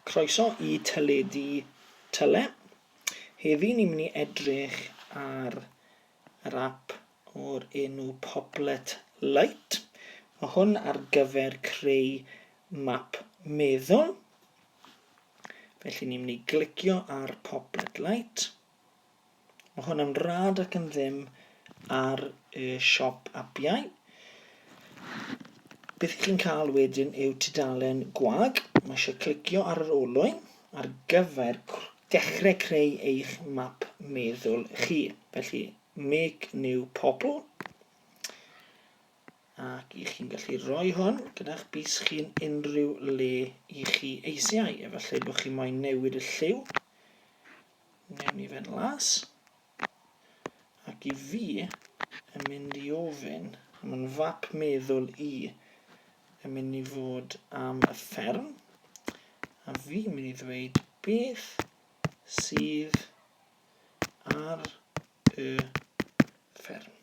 Croeso i Teledu Tyle. Heddi ni'n mynd i edrych ar yr ap o'r enw Poplet Lite. Mae hwn ar gyfer creu map meddwl. Felly ni'n mynd i glicio ar Poplet Lite. Mae hwn yn rad ac yn ddim ar y siop apiau. Beth ych chi'n cael wedyn yw tudalen gwag. Mae eisiau clicio ar yr olwyn ar gyfer dechrau creu eich map meddwl chi. Felly, make new pobl. Ac i chi'n gallu rhoi hwn gyda'ch bus chi'n unrhyw le i chi eisiau. Efallai bod chi moyn newid y lliw Newn ni fynd las. Ac i fi yn mynd i ofyn am yn fap meddwl i yn mynd i fod am y fferm. A fi mynd i ddweud beth sydd ar y fferm.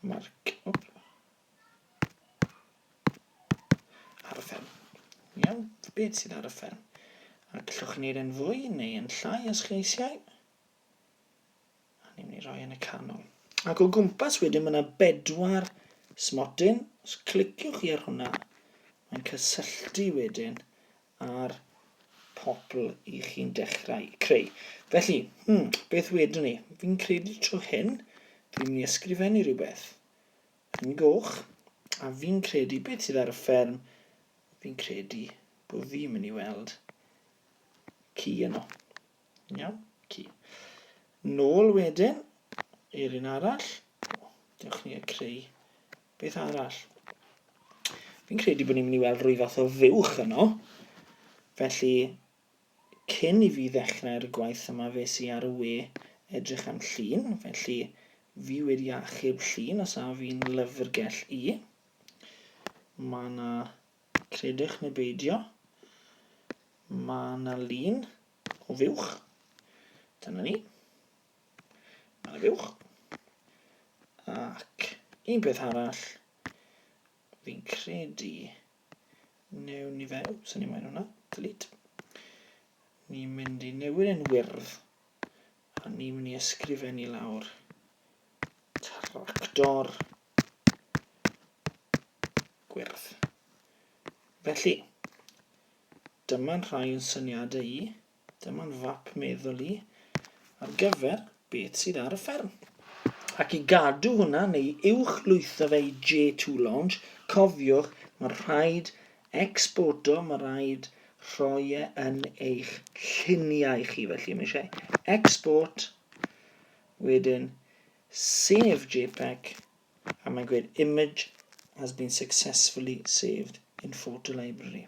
Mae'r... arfer. Iawn, beth sydd arfer? A gallwch wneud yn fwy neu yn llai os chi eisiau. A ni'n mynd i roi yn y canol. Ac o gwmpas wedyn mae yna bedwar smotyn. Os cliciwch chi ar hwnna, mae'n cysylltu wedyn ar pobl i chi'n dechrau creu. Felly, hmm, beth wedwn ni? Fi'n credu trwy hyn, dwi'n mynd i ysgrifennu rhywbeth. Yn goch. A fi'n credu, beth sydd ar y fferm? Fi'n credu bod fi'n mynd i weld ci yno. Iawn, ci. Nôl wedyn i'r un arall. Dewch ni a creu beth arall. Fi'n credu bod ni'n mynd i weld rhywbeth o fuwch yno. Felly, Cyn i fi ddechrau'r gwaith yma fes i ar y we edrych am llun, felly fi wedi achub llun os a fi'n lyfrgell i. Mae yna, credwch neu beidio, mae yna lun o fuwch. Dyna ni. Mae yna fuwch. Ac un peth arall, Fi'n credu newn ni fe. Wps, o'n i moyn hwnna. Delete. Ni'n mynd i newid yn wyrdd. A ni'n mynd i ysgrifennu lawr. Tractor. Gwyrdd. Felly, dyma'n rhai o'n syniadau i. Dyma'n fap meddwl i ar gyfer beth sydd ar y fferm. Ac i gadw hwnna neu uwch lwytho fe i J2 Launch, cofiwch, mae rhaid exporto, mae rhaid rhoi e yn eich lluniau chi, felly mae eisiau export, wedyn save JPEG, a mae'n gwneud image has been successfully saved in photo library.